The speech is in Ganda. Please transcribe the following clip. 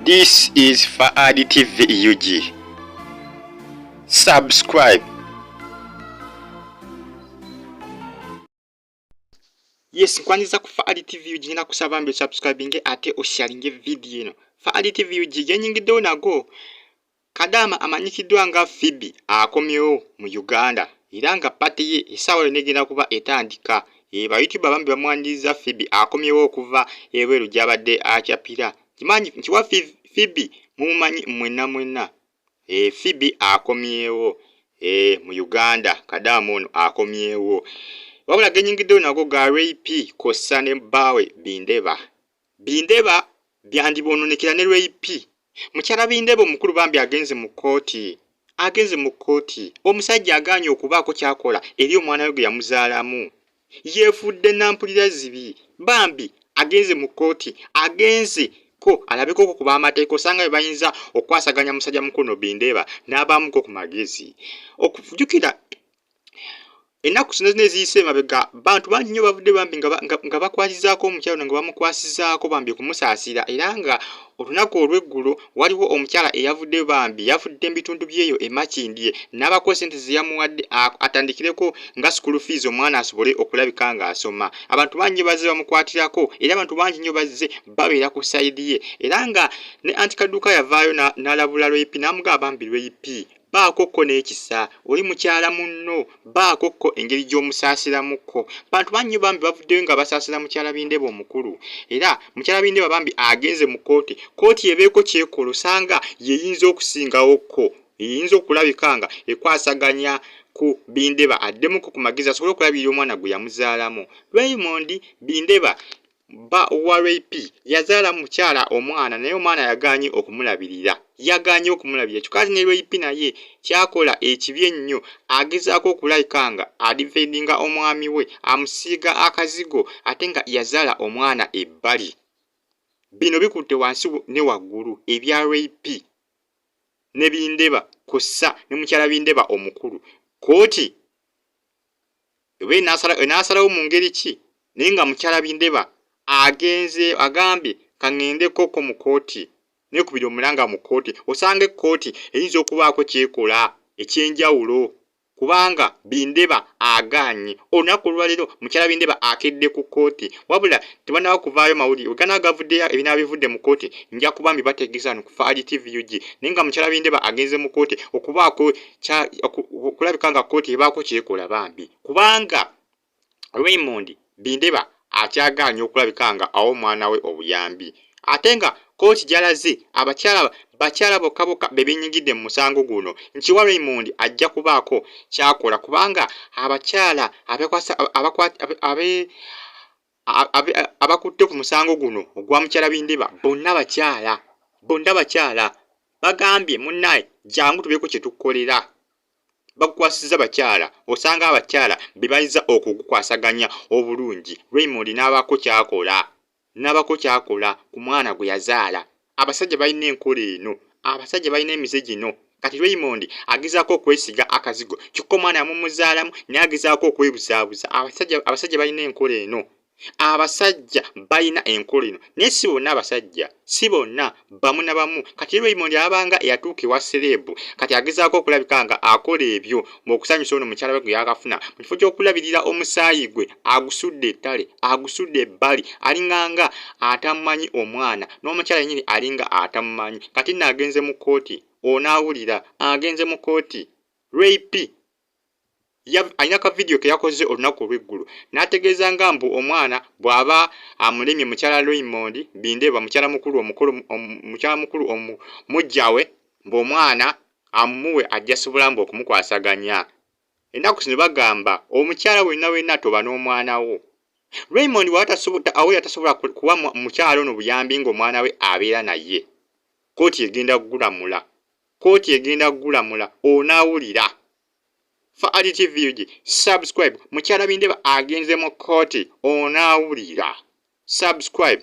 This is Fahad TV UG. Subscribe. Yes, nkwanyiza ku Fahad TV UG ngenda kusaba mbe subscribinge ate osharinge video eno. Fahad TV UG yenyingiddewo nago Kadaama amanyikiddwa nga Phoebe akomyewo mu Uganda era nga pate ye essaawa yonna egenda kuba etandika. Ee, bayutuba bambi bamwaniriza Phoebe akomyewo okuva ebweru gy'abadde akyapira. Kimanyi nti wa Phoebe mumumanyi mwenna mwenna. Ee, Phoebe akomyewo ee mu Uganda, Kadaama ono akomyewo. Wabula genyingiddewo nago ga Ray P kossa ne bbaawe Bindeba. Bindeba byandibononekera ne rip mukyala bindeba omukulu bambi agenze mu kooti agenze mu kooti omusajja aganye okubaako kyakola eri omwana we gwe yamuzaalamu yefudde nampulira zibi bambi agenze mu kooti agenze ko alabeko oko kuba amateeka osanga be bayinza okwasaganya musajja mukulu no bindeba n'abaamuko ku magezi okujukira ennaku zino zino eziyise emabega bantu bangi nnyo bavudde bambi nga bakwasizaako omukyalo no nga bamukwasizaako bambi okumusaasira era nga olunaku olw'eggulo waliwo omukyala eyavudde bambi yavudde mu bitundu byeyo emakindye n'abako sente zeyamuwadde atandikireko nga sukulu fiizi omwana asobole okulabika ng'asoma abantu bangi bazze bamukwatirako era abantu bangi nnyo bazze babeera ku sayidi ye era nga ne anti kaduuka yavaayo n'alabula lweyipi n'amugaa bambi lweyipi baako kko n'ekisa oli mukyala munno baako kko engeri gy'omusaasiramu kko bantu bannyo bambi bavuddeyo nga basaasira mukyala bindeba omukulu era mukyala bindeba bambi agenze mu kkooti kkooti ebeeko kyekola osanga yeyinza okusingawo kko eyinza okulabika nga ekwasaganya ku bindeba addemuko ku magezi asobole okulabirira omwana gwe yamuzaalamu raymond bindeba Bba wa Ray P yazaala mukyala omwana naye omwana yagaanye okumulabirira yagaanye okumulabirira kyokka ate ne Ray P naye kyakola ekibi ennyo agezaako okulayika nga adivendinga omwami we amusiiga akazigo ate nga yazaala omwana ebbali bino bikutte wansi ne waggulu ebya Ray P ne Bindeba kussa ne mukyala Bindeba omukulu kkooti oba enasalawo mu ngeri ki naye nga mukyala bindeba agenze agambye kaŋendekoko mu kooti nekubira omulanga mu kooti osanga ekkooti eyinza okubaako kyekola ekyenjawulo kubanga bindeba agaanye olunaku olwaleero mukyala bindeba akedde ku kooti wabula tebanawo kuvaayo mawulire ogana agavuddeyo ebinaba bivudde mu kooti nja kuba mbibategeeza no ku faali tvug naye nga mukyala bindeba agenze mu kooti okubaako okulabika nga kkooti ebaako kyekola bambi kubanga Raymond Bindeba akyagaala nnyo okulabika nga awa omwana we obuyambi ate nga kkooti gyalaze abakyala bakyala bokka bokka be benyigidde mu musango guno nti wa Raymond ajja kubaako kyakola kubanga abakyala abakwasa abakwata abakutte ku musango guno ogwa mukyala Bindiba bonna bakyala bonna bakyala bagambye munnaye jangu tubeeko kye tukolera bakukwasizza bakyala osanga abakyala be bayinza okugukwasaganya obulungi Raymond n'abaako kyakola n'abaako kyakola ku mwana gwe yazaala abasajja balina enkola eno abasajja balina emize gino kati raymond agezaako okwesiga akazigo kyokka omwana yamumuzaalamu naye agezaako okwebuzaabuza abasajja abasajja balina enkola eno abasajja balina enkola eno naye si bonna abasajja si bonna bamu na bamu kati raymond abanga eyatuuka ewa sereebu kati agezaako okulabika nga akola ebyo mu okusanyusa ono mukyala we gwe yakafuna mu kifo ky'okulabirira omusaayi gwe agusudde ettale agusudde ebbali alinganga atamumanyi omwana n'omukyala yenyini alinga atamumanyi kati nno agenze mu kkooti onaawulira agenze mu kkooti rape alina ka vidiyo ke yakoze olunaku olw'eggulu n'ategeeza nga mbu omwana bw'aba amulemye mukyala raymond bindeba mukyala mukulu omukulu mukyala mukulu omujjawe mbu omwana amumuwe ajja sobola mbu okumukwasaganya ennaku zino bagamba omukyala wenna wenna toba n'omwana wo raymond awo yatasobola kuwa mukyala ono buyambi ng'omwana we abeera naye kooti egenda kugulamula kooti egenda kugulamula onaawulira fa adtvug subscribe mukyala bindeba agenze mu kooti onaawulira subscribe